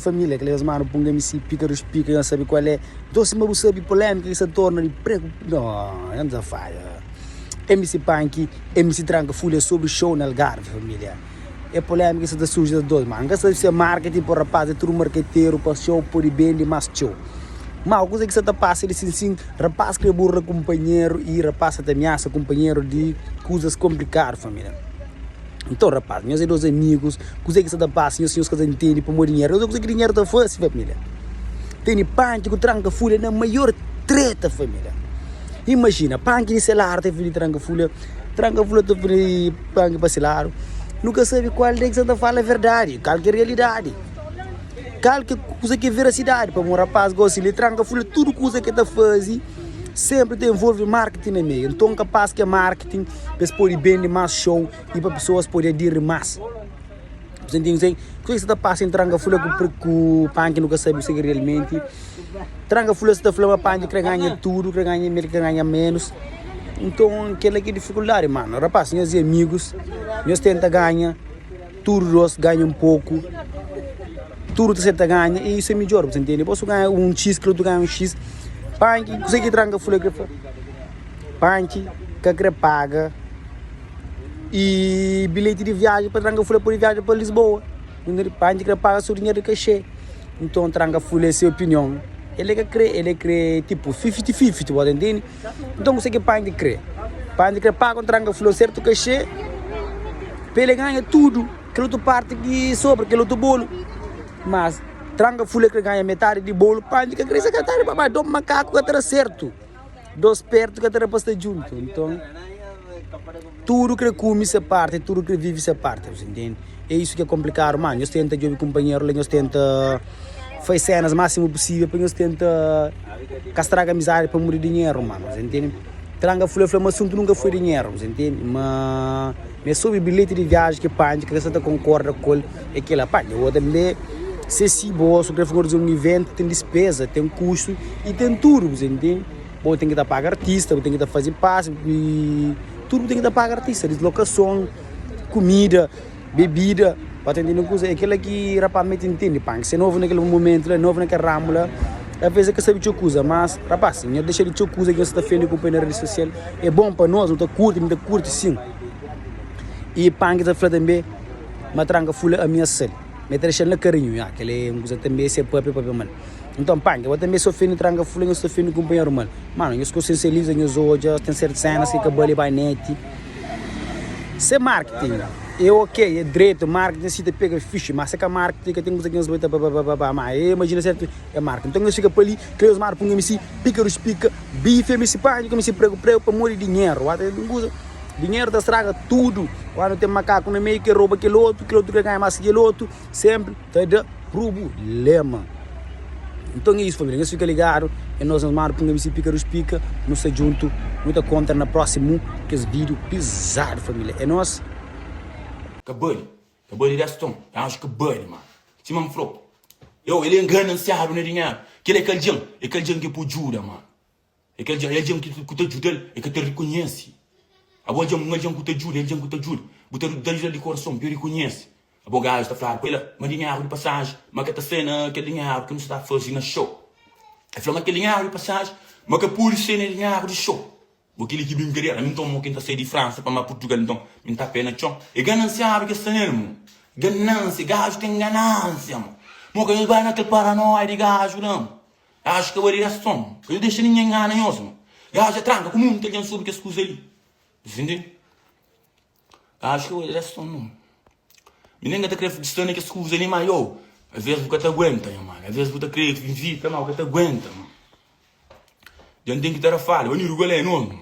Família, kel es manu pun msi pikarus pika nhos sabi kual é nton sima bu sabi polémika ki sa torna di preku noo nhos a fada msi panki msi tranka fúlia sobri xou na algarvi família é polémika ki sa ta surji da dôs manu nka sabi si é marketing pa rapaz é tudu marketeru pa xou pode bende más txeu mau kuza ki sa ta pasa di sin sin rapaz krê burla kunpanheru y rapaz sa ta amiasa kunpanheru di kuzas konplikadu família. Nton, rapaz, nhos é dôs amigus, kuzê ki sta ta pasa nhos si nhos ka ta ntende pamodi dinheru? Nhos é kuzê ki dinheru ta fase, família? Tene panki ku tranka-folha na maior treta, família. Imajina, panki di se ladu ta ofende tranka-folha, tranka-folha ta ofende panki pa se ladu. Nu ka sabe kal des ki sta ta fala verdadi, kal ki é realidadi, kal ki é kuzê ki é verasidadi. Pamodi un rapaz gósi di lé tranka-folha, tudu kuza ki el ta faze. Senpri ta envolve marketing na meiu, nton kapaz ki é marketing pa es pode bende más xou i pa pesoas pode adiri más. Bu sta ntende kusé ki sta ta pasa entri Tranga fla ku Panki nu ka sabe kusé ki realmenti Tranga fla. Es ta fla ma Panki krê ganha tudu, krê ganha mel, krê ganha ménus. Nton kel-la ki é difikuldadi, mano. Rapaz, nhos é amigus, nhos tenta ganha. Tudu dos ganha un poku, tudu ta seta ganha y isu é midjor, bu ta ntende? Bo su ganha un xis, kel otu ganha un xis, Panchi, kuzê ki Tranka fla ki el fla? Panchi ka krê paga y bilheti di viaji pa Tranka fla pa el viaja pa Lisboa, bu ntende? Panchi krê paga su dinheru di kaxê, nton Tranka fla es se opinion, el é ka krê, el é krê tipu fifti-fifti, bo ta ntende? Nton kuse ki Pandi krê? Pandi krê paga un tranga flor sertu kaxê pa el ganha tudu kel otu parti ki sobra, kel otu bolu. Mas tranga flor krê ganha metadi di bolu, Pandi ka krê se ka tari babá. Dos makaku ka ta da sertu, dos pertu ka ta da pasta djuntu. Nton. Tudu kre kume se parti tudu kre vive se parti bu ta ntende e isu ki e komplikadu mas nhos tenta djobe kunpanheru la nhos tenta faz senas maksimu pusivel pa nhos tenta ka straga amizadi pamodi di dinheru mano bu ta ntende tranga fla fla ma asuntu nunka foi dinheru bu ta ntende ma ma e so be bilheti di viaji ki panji ke sa ta konkorda ku el e kila panji e otu tambe se si bo so kre fla un iventi ten dispeza ten kustu e ten tudu bu ta ntende. Bo ten ki ta paga artista, bu ten ki ta faze pas y tudu bu ten ki ta paga artista, dislokason, kumida, bebida, pa ta ntende un kuza, é kela ki rapaz mê ta ntende panka, se novu na kel momentu la, novu na kel ramu la, talvês el ka sabe txeu kuza, mas rapaz, nhos dexa di txeu kuza ki nhos sta ta ofende ku poi na redi sosial, é bon pa nos, nu ta kurti, mi ta kurti sin, y panka ta fla tanbe, matranka fula ami nhas sal, mi ta dexal na karinhu, nha, kel-li é un kuza tanbe, si é pape, é pape mal. Nton panka, bo tanbe s'ofende tranka fla nhos ta ofende kunpanheru mal. Mano, nhos konsensializa nhos odja ten sertu sénas ki ka bali bai net. Se marketing e ok, e dretu, marketing si ta pega fixi, ma se ka marketing ka ten kuza ki nhos bai ta ba ba ba ba. Ma e imajina sertu e marketing. Nton nhos fika pa li, kla nhos mara punga mi si pika rus pika, bife mi si panka mi si pregu pregu pamodi dinheru. Wata ten un kuza, dinheru ta straga tudu. Kandu ten makaku na meiu, kel roba kel otu, kel otu krê ganha más ki kel otu, senpri. Ta da prubulema. Nton é isu família, nhos fika ligadu, é nos nhos manda pa un abc pika dus pika, nu sta djuntu, nu ta kontra na prósimu kes vídeo pizadu família, é nos. Ka bali, ka bali des ton, e anju ka bali ma. Sima N flo, eu, el é ngana-n siábi na dinheru. Kel-la é kal djen? É kal djen ki é pa-u djuda ma. É kel dja, é algen ki ku ta djuda-l, el ka ta rikonhese. Abo algen, un algen ku ta djuda, é algen ku ta djuda. Bu ta da-l di korason pa el rikonhese. Abo gajus ta fladu pa el, Má dinheru di pasaji, ma ka ta sai na kel dinheru ki nu sta ta faze na xou. El fla, Má kel dinheru di pasaji, ma ka pode sai na dinheru di xou. Bo kel-li ki brinkaderu? Ami nton, mo ki N ta sai di Fransa pa ma Purtugal, nton mi N ta pé na txon? É ganansiadu ki es sta nel, mo. Ganansia, gaju ten ganansia, mo. Mo, ka nhos bai na kel paranóia di gaju la, mo. Acho ka ba di raston ka yo dexa ninhen ngana nhos ma yo acha tranka ku munta algen sobre kes kuza li sintende acho ka ba di raston no mi nen ka ta kre sta na kes kuza li ma yo aves bu ka ta guenta nha mada aves bu ta kre vizita ma bu ka ta guenta ma gen ten ki ta ra fala ba mi rugolé nhos ma.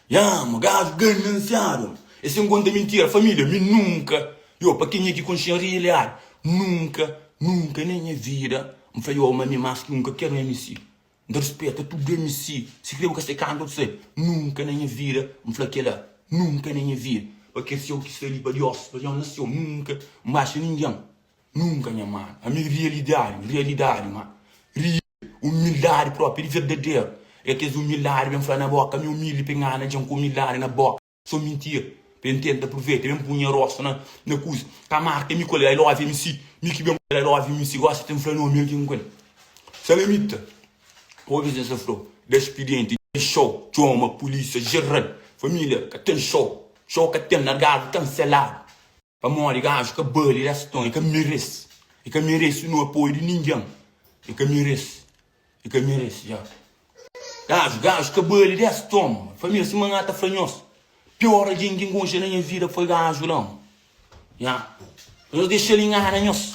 Ya ma gaju ganansiadu. E sen konta mintira familia mi nunka yo pa kenha ki konxi en rialidadi nunka nunka na nha vida N fla yo ma mi mas ki un ka ker MC N ta rispeta tudu MC sikrê bu ka sai kanta bu sai nunka na nha vida N fla kela nunka na nha vida pa kes yo ki sta li pa Diós pa Diós na séu nunka N baxa ningen nunka nha manu ami rialidadi rialidadi ma ri. Umildadi propi di verdaderu é kes umildadi ben fla na boka ami umildi pa ngana djen ku umildadi na boka so mintia pa N tenta pruveita ben pun nha rostu na kuz ka marka mi kul i love mc mi ki ben kul i love mc gosta ten fla nomi algin kul salamita obi ses afro da spidienti di ten show txoma pulisia jeral familia ka ten show show ka ten largadu kanseladu. Pamodi gaju ka bali des ton, e ka merese, e ka merese nu apoio di ningen, e ka merese, e ka merese ja. Gaju, gaju ka bali des ton, famia sima nha ta fla nhos, pior algen ki nkonxe na nha vida foi gaju la, nha, nhos dexal ingana nhos,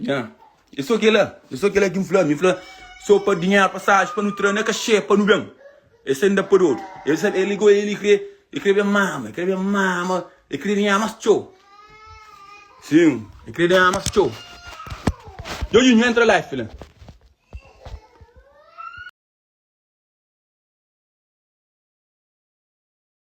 Nha, é sô kel-la, é sô kel-la ki N fla, mi fla sô pa dinheru, pasajen pa nu tra na kaxê pa nu ben, el sai n-da pa dodu, el sai, el ligou el, el krê, el krê ben mama, el krê ben mama, el krê danha más txeu, sim, el krê danha más txeu, Djodjinho entra la, fla.